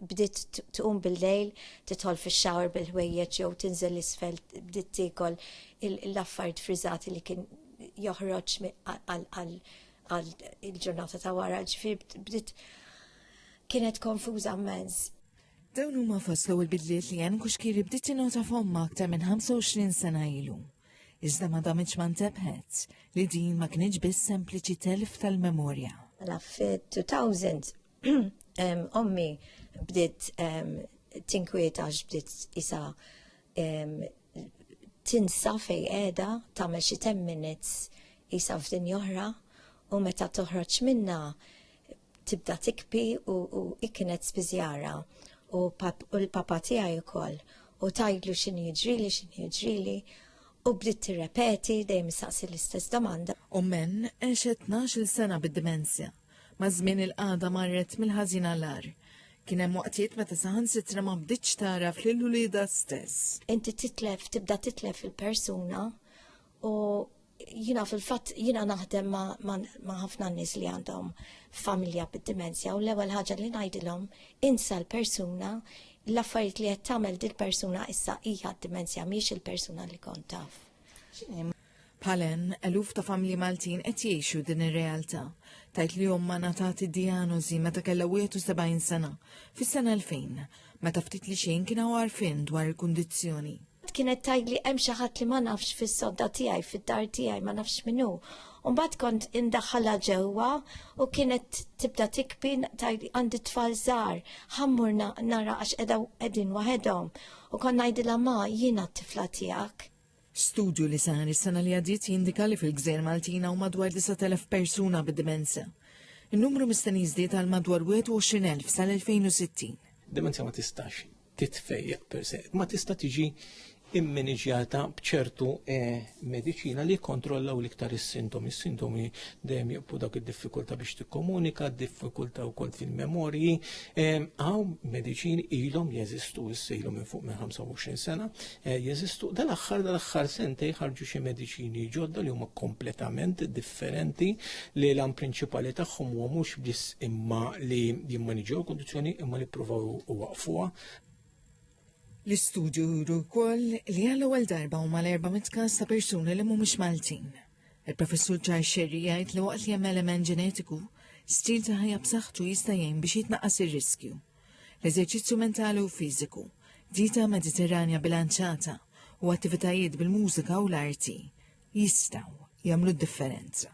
bdiet tqum bil-lejl, titħol fix-xawar bil-ħwejjeġ jew tinżel isfel bdiet tiekol l-affarijiet friżati li kien joħroġ għal il-ġurnata ta' wara, ġifier bdiet kienet konfuża mens. Dawn huma fost l-ewwel bidliet li hemm kuxkiri bdiet tinota f'omma aktar minn 25 sena ilu. Iżda ma damitx ma ntebħet li din ma kienx biss sempliċi telf tal-memorja. La fit-2000 Ommi bdiet tinkwieta bdiet isa tinsa fej qiegħda tagħmel xi 10 minutes isa f'din oħra u meta toħroġ minna tibda tikpi u, u iknet spiżjara u, pap, u l-papa tiegħi wkoll u tajdlu x'in jiġrili x'in jiġrili u bdiet tirrepeti dejjem saqsi l-istess domanda. U men għexet 12 sena bid-dimensja. Maż-żmien il-qagħda marret mill-ħażin għall-agħar. Kien hemm waqtiet meta saħansitra ma bdietx tagħraf lil uliedha stess. Inti titlef, tibda titlef il-persuna u jina fil-fatt jina naħdem ma' ħafna nies li għandhom familja bid-dimensja u l-ewwel ħaġa li ngħidilhom insa l-persuna l-affarijiet li qed tagħmel dil-persuna issa hija d-dimensja mhix il-persuna li kont taf. Bħal hemm, eluf ta' familji Maltin qed jgħixu din ir-realtà. Tajt li omma ngħatat id-dijanożi meta kellha 71 sena, fis-sena 2000, meta ftit li xejn kien hawn għarfien dwar il-kundizzjoni. Kienet tgħidli hemm xi ħadd li ma nafx fis-sodda tiegħi, fid-dar tiegħi ma nafx min hu. U mbagħad kont indaħħalha ġewwa u kienet tibda tikbi tgħidli għandi tfal żgħar, ħammur nara għax qegħdin waħedhom. U kont ngħidilha ma jiena t-tifla tiegħek. Studju li sar is-sena li għaddiet jindika li fil-Gżejjer Maltin hawn madwar 9,000 persuna bid-dimenza. In-numru mistenni jiżdied għal madwar 21,000 sal-2060. Dimensja ma tistax titfejjaq per se, ma tista' tiġi immaniġjata bċertu eh, medicina li kontrollaw l-iktar is-sintomi. Is-sintomi dejjem jibqu dak id-diffikulta biex tikkomunika, diffikulta u kont fil-memorji. Għaw eh, medicini ilhom jeżistu issejlu minn fuq minn 25 sena, Eh, jeżistu dal-aħħar dal-aħħar sentej ħarġu xi mediċini ġodda li huma kompletament differenti li l-għam prinċipali tagħhom huwa mhux biss imma li jimmaniġew kondizzjoni imma li provaw u waqfuha L-istudju juru wkoll li għal ewwel darba huma l-erba' mitkas ta' persuni li mhumiex Maltin. Il-professur Charles Sherry jgħid li waqt li hemm element ġenetiku, stil ta' ħajja b'saħħtu jista' jgħin biex jitnaqqas ir-riskju. l-eżerċizzju mentali u fiżiku, dieta Mediterranja bilanċata u attivitajiet bil-mużika u l-arti jistgħu jagħmlu d-differenza.